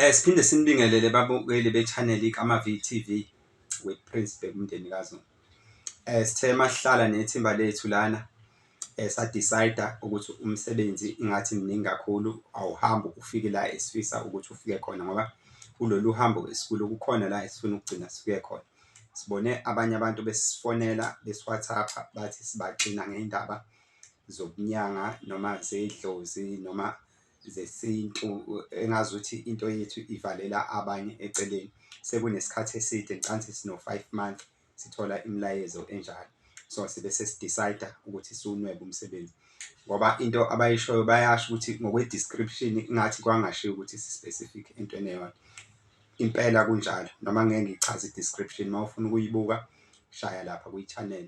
Eh siphinde sinibingelele babukeli be-channel iKamavi TV with Prince Bheka umndeni kaZulu. Eh sithe mahlala nethimba lethu lana eh sadecide ukuthi umsebenzi ingathi mningi kakhulu awuhambi ufike la esifisa ukuthi ufike khona ngoba kulolu hambo esikulo kukhona la esifuna ukugcina sifike khona. Sibone abanye abantu besifonela besiwhatsappa bathi sibaxina ngendaba zokunyanga noma zedlozi noma zesintu engazuthi into yethu ivalela abanye eceleni. Sekunesikhathi eside ngicabanga ukuthi sino-five months sithola imilayezo enjalo. So sibe sesi-decide-a ukuthi siwunwebe umsebenzi ngoba into abayishoyo bayasho ukuthi ngokwe-description ingathi kwangashiwo ukuthi si-specific entweni eyodwa. Impela kunjalo noma ngeke ngiyichaze i-description uma ufuna ukuyibuka shaya lapha kwi-channel.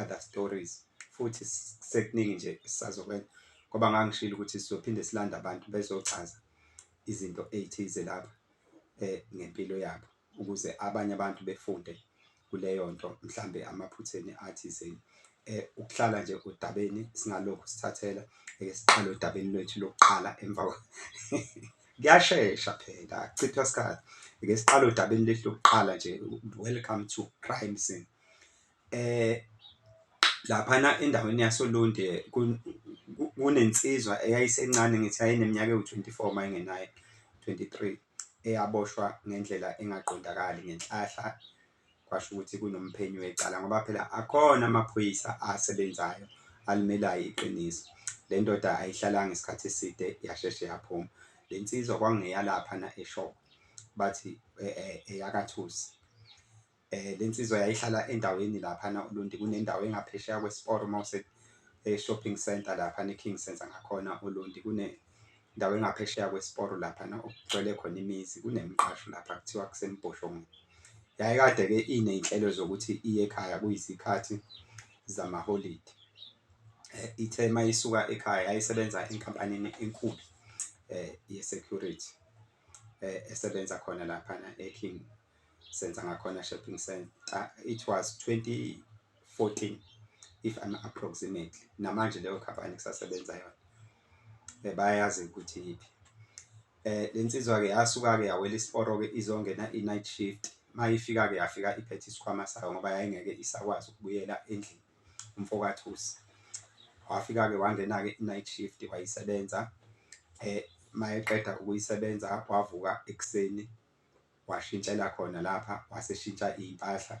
other stories futhi sekuningi nje esisazokwenza ngoba ngangishilo ukuthi sizophinde silande abantu bezochaza izinto ey'thize lapha um ngempilo yabo ukuze abanye abantu befunde kuleyo nto mhlambe amaphutheni athizeni eh ukuhlala nje odabeni singalokhu sithathela eke siqale odabeni lwethu lokuqala emva kuyashesha phela chithwa isikhathi eke siqale odabeni lwethu lokuqala nje welcome to crime scene Laphana endaweni yasoLundi kunensizwa eyayisencane ngithi yayineminyaka ewu-twenty four uma ingenaye twenty three eyaboshwa ngendlela engaqondakali ngenhlahla, kwasho ukuthi kunomphenyi wecala ngoba phela akhona amaphoyisa asebenzayo alimelayo iqiniso. Le ndoda ayihlalanga isikhathi eside yasheshe yaphuma. Le nsizwa kwakungeyalaphana eShowe bathi eyakaThusi. Lensizwa yayihlala endaweni laphana uLundi kunendawo engaphesheya kwesiporo mawuse e-shopping center laphana e-King Center ngakhona uLundi kunendawo engaphesheya kwesiporo laphana okugcwele khona imizi kunemiqasho lapha kuthiwa kusembhoshongweni. Yayikade-ke iney'nhlelo zokuthi iye ekhaya kuyizikhathi zamaholidi. Ithe mayisuka ekhaya yayisebenza enkampanini enkulu ye-security. eh, esebenza khona lapha na eKing senza ngakhona shopping center it was 2014 if I'm approximately namanje leyo company kusasebenza yona eh, bayazi ukuthi yiphi eh lensizwa ke yasuka ke yawela isiporo ke izongena i night shift mayifika ke yafika iphethe isikhwama sayo ngoba yayingeke isakwazi ukubuyela endlini umfokaThusi wafika-ke wangena-ke i-night shift wayisebenza um mayeqeda ukuyisebenza wavuka ekuseni washintshela khona lapha waseshintsha iy'mpahla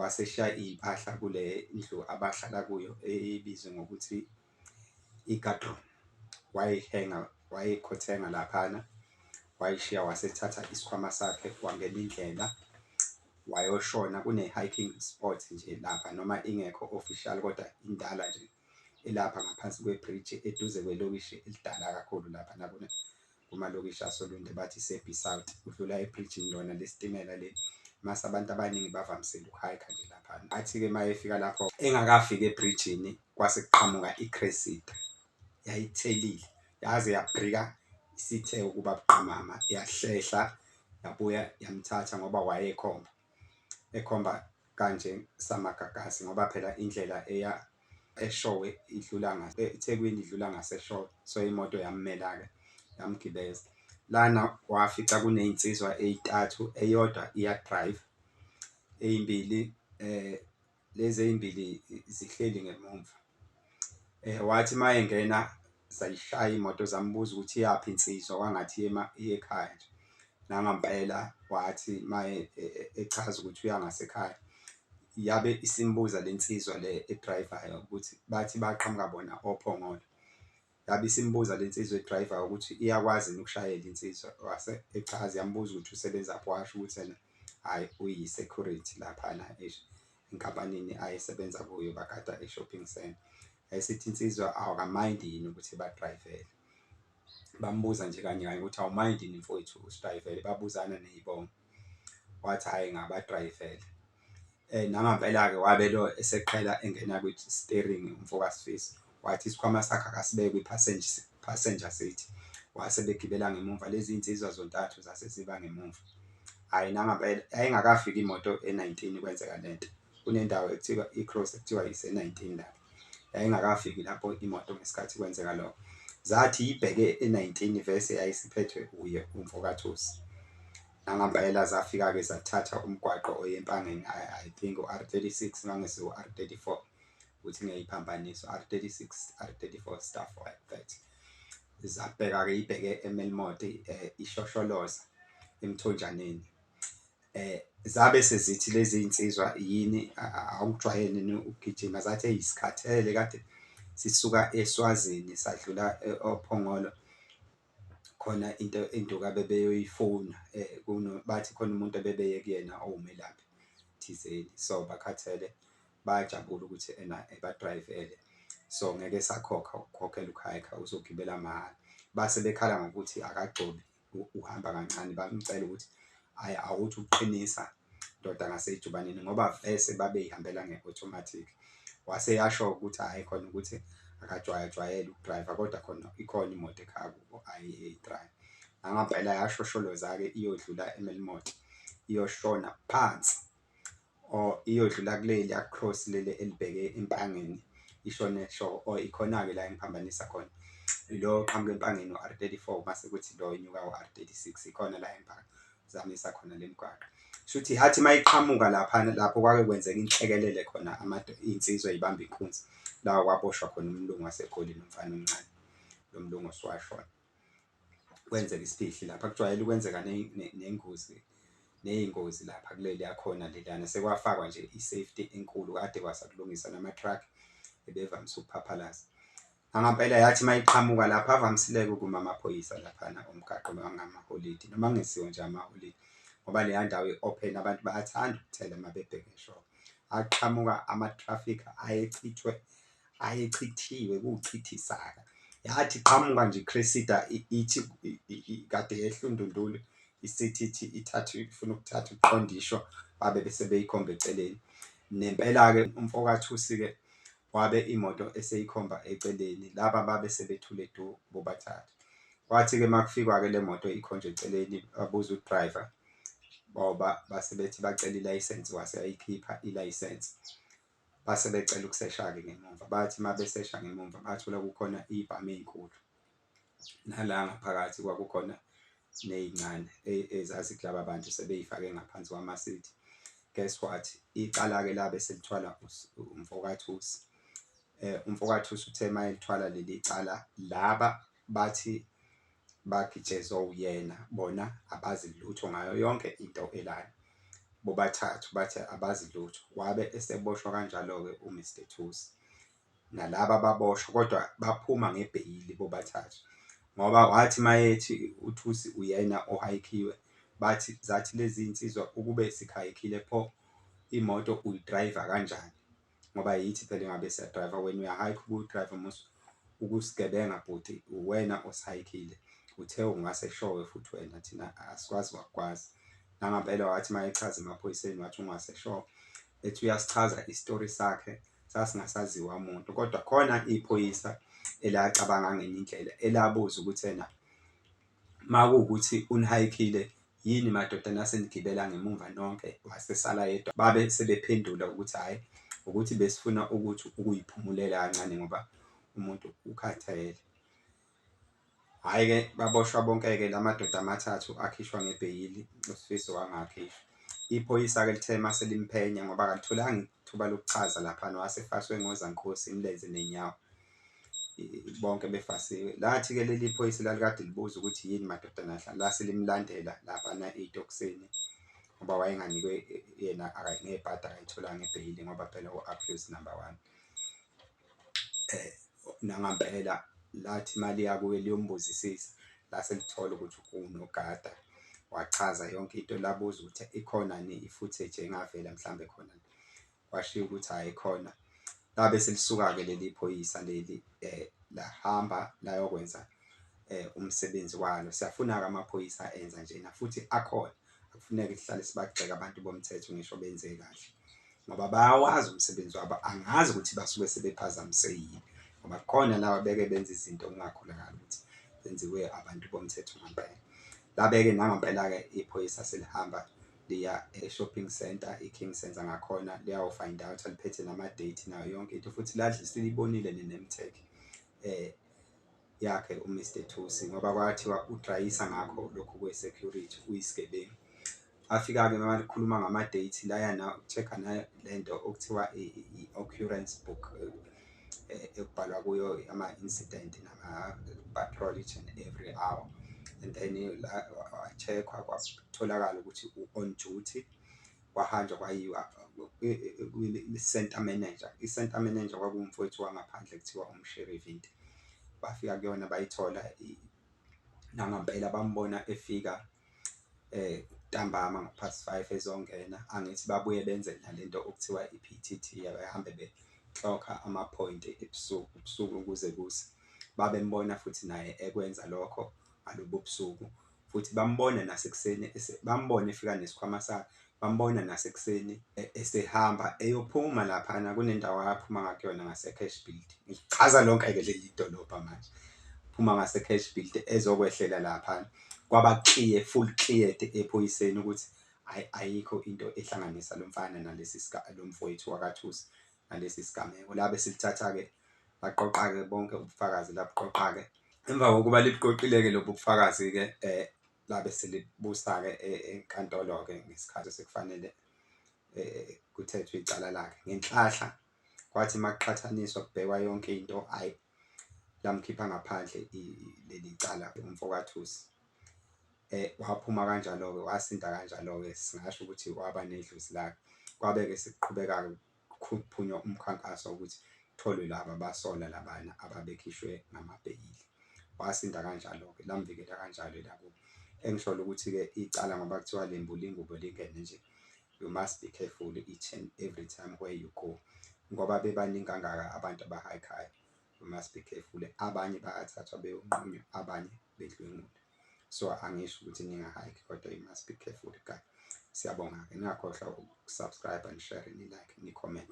waseshiya iy'mpahla kule ndlu abahlala kuyo ebizwa ngokuthi. igadron wayihenga wayikhothenga laphana wayishiya wasethatha isikhwama sakhe wangena indlela wayoshona kune-hiking spot nje lapha noma ingekho official kodwa indala nje elapha ngaphansi kwebhriji eduze kwelokishi elidala kakhulu lapha nabona kumalokishi asoLundi bathi iSebhi South, udlula ebrijini lona lesitimela leli mase abantu abaningi bavamisile ukuhayikha nje laphana. Athi-ke uma efika lapho engakafiki ebrijini kwase kuqhamuka iCressida yayithelile yaze yabhrika isithe ukuba buqamama yahlehla yabuya yamthatha ngoba wayekhomba ekhomba kanje samagagasi ngoba phela indlela eya eshowe idlula ngase eThekwini idlula ngaseshowe so imoto yammela ke yamgibeza lana wafica kunezinsizwa ezintathu eyodwa iya drive ezimbili eh lezi ezimbili zihleli ngemumva eh wathi mayengena zayishaya imoto zambuza ukuthi iyaphi insizwa kwangathi yema ekhaya nje nangampela wathi maye e, e, echaza ukuthi uya ngasekhaya yabe isimbuza lensizwa le edrivayo ukuthi bathi baqhamuka bona ophongolo yabe isimbuza lensizwa edriver ukuthi iyakwazi ukushayela insizwa wase echaza yambuza ukuthi usebenza phi washo ukuthi yena hayi uyi security lapha na esho enkampanini ayesebenza kuyo bagada e shopping center esithi insizwa awakamind yini ukuthi ba driver bambuza nje kanye kanye ukuthi awumind yini mfowethu usidriver babuzana nezibongo wathi hhayi ngabadrayivele. Nangampela-ke wabe lo eseqhela engena kwi-steering umfo kaSifiso. Wathi isikhwama sakhe akasibeke kwi-passenger passenger seat. Wase begibela ngemumva lezi nsizwa zontathu zase ziba ngemumva. Hhayi nangampela yayingakafiki imoto e-nineteen kwenzeka le nto. kunendawo ekuthiwa i-cross ekuthiwa yise-19 lapho yayingakafiki lapho imoto ngesikhathi kwenzeka lokho zathi ibheke e-19 vese yayisiphethwe uye umfokathusi nangampela zafika-ke zathatha umgwaqo oyempangeni i think u-r36 mangese u-r34 ukuthi ngiyayiphambanisa u-r36 r34 stuff like that zabheka-ke ibheke emelmoti um eh, ishosholoza emthonjaneni eh zabe sezithi lezi insizwa yini awukujwayele ni ukugijima zathi eyisikhathele kade sisuka eSwazini sadlula eh, oPhongolo khona into induka bebeyoyifuna eh kuno bathi khona umuntu abebeye kuyena owumelaphi thizeni so bakhathele bayajabula ukuthi ena ebadrivele so ngeke sakhokha ukukhokhela ukhayikha uzogibela mahhala base bekhala ngokuthi akagcobi uhamba kancane bamcela ukuthi ayi awuthi uqinisa ndoda ngasejubaneni ngoba vese babeyihambela nge-automatic wase yasho ukuthi hhayi khona ukuthi akajwayajwayele ukudriver kodwa khona ikhona imoto ekhaya kubo ayi-drive nangampela yashosholoza-ke iyodlula emelimoto iyoshona phansi or iyodlula kuleli across leli elibheke eMpangeni ishone so or ikhona-ke la engiphambanisa khona lo oqhamuka eMpangeni u-R thirty four mase kuthi lo inyuka u-R thirty six ikhona la engiphambanisa khona le mgwaqo shuthi athi uma iqhamuka lapha lapho kwake kwenzeka inhlekelele khona iy'nsizwa ey'bamba inkunzi lawa kwaboshwa khona umlungu waseGoli nomfana omncane lo mlungu oswashona. kwenzeka isifihli lapha kujwayele ukwenzeka nengozi neyingozi lapha kuleli yakhona lelana sekwafakwa nje i-safety enkulu kade kwasakulungisa nama-truck ebevamise ukuphaphalaza angempela yathi uma iqhamuka lapha avamisileke ukuma amaphoyisa laphana umgaqo angamaholidi noma kungesiwo nje amaholidi ngoba leya ndawo i-open abantu bayathanda ukuthela uma bebheke shop aqhamuka ama-traffic ayechithwe ayechithiwe kuchithisaka yathi qhamuka nje Cressida ithi kade yehla uNdundulu isithi ithi ithatha ifuna ukuthatha uqondisho babe bese beyikhomba eceleni nempela-ke umfokathusi-ke wabe imoto eseyikhomba eceleni laba babe sebethule du bobathathu kwathi-ke uma kufikwa-ke le moto ikhonjwa eceleni babuza udriver boba base bethi bacela ilayisensi wase ayikhipha ilayisensi base becela ukusesha-ke ngemumva. Bathi uma besesha ngemumva bathola kukhona iy'bhamu ey'nkulu, nala ngaphakathi kwakukhona ney'ncane ezazithi laba bantu sebey'fake ngaphansi kwamasithi. Guess what? Icala-ke labe selithwala umfokathusi. Umfokathusi uthe uma elithwala leli cala laba Bathi bagitshezwa uyena bona abazi lutho ngayo yonke into elana. Bobathathu bathi abazi lutho wabe eseboshwa kanjalo-ke uMr Thusi. Nalaba baboshwa kodwa baphuma ngebheyili bobathathu ngoba wathi mayethi uThusi uyena ohayikhiwe bathi zathi lezi nsizwa ukube sikhayikhile pho imoto uyidrayiva kanjani. ngoba yithi phela engabe siya driver wena uya hike uku driver musa ukusigebenga bhuti uwena osihayikile uthe ungase showe futhi wena thina asikwazi wakwazi nangampela wathi mayechaza emaphoyiseni wathi ungase showe ethi uyasichaza isitori sakhe sasingasaziwa umuntu kodwa khona iphoyisa elacabanga ngenye indlela elabuza ukuthi ena Makuwukuthi unihayikile yini madoda nase nigibela ngemumva nonke wasesala yedwa babe sebephendula ukuthi hhayi ukuthi besifuna ukuthi ukuyiphumulela kancane ngoba umuntu ukhathele. Hhayi-ke baboshwa bonke-ke la madoda amathathu akhishwa ngebheyili uSifiso wangakhishwa. Iphoyisa-ke lithe uma selimphenya ngoba akalitholanga ithuba lokuchaza laphana wasefaswe ngozankosi imilenze nenyawo. bonke befasiwe lathi-ke leli phoyisa lalikade libuza ukuthi yini madoda nahla lase limlandela laphana ey'tokisini ngoba wayenganikwe yena ngey'pata akayitholanga ebheyili ngoba phela u-abuse number one eh nangampela lathi imali yakuye liyombuzisisa lase lithola ukuthi unogada wachaza yonke into labuza ukuthi ikhona ni i-footage engavela mhlawumbe khona kwashiwo ukuthi hhayi khona. Labe selisuka-ke leli phoyisa leli um lahamba layokwenza um umsebenzi walo. Siyafuna-ke amaphoyisa enza njena futhi akhona. Akufuneke sihlale sibagxeka abantu bomthetho ngisho benze kahle ngoba bayawazi umsebenzi wabo. Angazi ukuthi basuke sebephazamise yini ngoba khona laba beke benza izinto kungakholakali ukuthi zenziwe abantu bomthetho ngampela. Labe-ke nangampela-ke iphoyisa selihamba liya e shopping centre i King Centre ngakhona liyawu find out liphethe nama date nayo yonke into futhi ladli silibonile ne name tag eh yakhe u Mr Thusi ngoba kwathiwa udrayisa ngakho lokhu kwe security uyisigebengu afika-ke uma likhuluma ngama-date layana uku-check-a lento okuthiwa i-occurrence book eh, ekubhalwa kuyo ama-incident nama-patrol each and every hour and then wachekhwa kwatholakala ukuthi u-on duty kwahanjwa kwayiwa i-center manager i-center manager kwakuwumfowethu wangaphandle kuthiwa umsherivinti bafika kuyona bayithola nangampela bambona efika ntambama ngo-past five ezongena, angithi babuye benze nale nto okuthiwa i-P_T_T abahambe beklokha amaphoyinti ebusuku, ubusuku kuze kuse. Babembona futhi naye ekwenza lokho ngalobo busuku futhi bambone nasekuseni bambone efika nesikhwama sakhe. bambona nasekuseni esehamba eyophuma laphana kunendawo aphuma ngakuyona ngase-cash build ngichaza lonke-ke leli dolobha manje phuma ngase-cash build ezokwehlela laphana kwaba clear full cleared ephoyiseni ukuthi ayikho into ehlanganisa lo mfana nalesi lo mfowethu wakathusi nalesi sigameko la besilithatha-ke baqoqa-ke bonke ubufakazi labuqoqa-ke emva kokuba libuqoqile-ke lobu bufakazi-ke um eh, labe selibusa-ke enkantolo-ke ngesikhathi sekufanele kuthethwe icala lakhe ngenhlahla kwathi makuqhathaniswa kubhekwa yonke into ayi lamkhipha ngaphandle leli cala umfokathusi eh waphuma kanjalo-ke wasinda kanjalo-ke singasho ukuthi waba nedlozi lakhe kwabe-ke sekuqhubeka-ke Kuqhuphunywa umkhankaso wokuthi kutholwe laba abasolwa labana ababekhishwe ngamabheyili. Wasinda kanjalo-ke, lamvikela kanjalo elakubo. Engisholo ukuthi-ke icala ngoba kuthiwa lembula ingubo lingene nje, you must be careful each and every time where you go. Ngoba bebaningi kangaka abantu abahayikhayo, you must be careful. Abanye bayathathwa beyonqunywa, abanye bedlwengula so angisho ukuthi ninga hike kodwa you must be careful guys siyabonga ke ningakhohlwa ukusubscribe and share ni like ni comment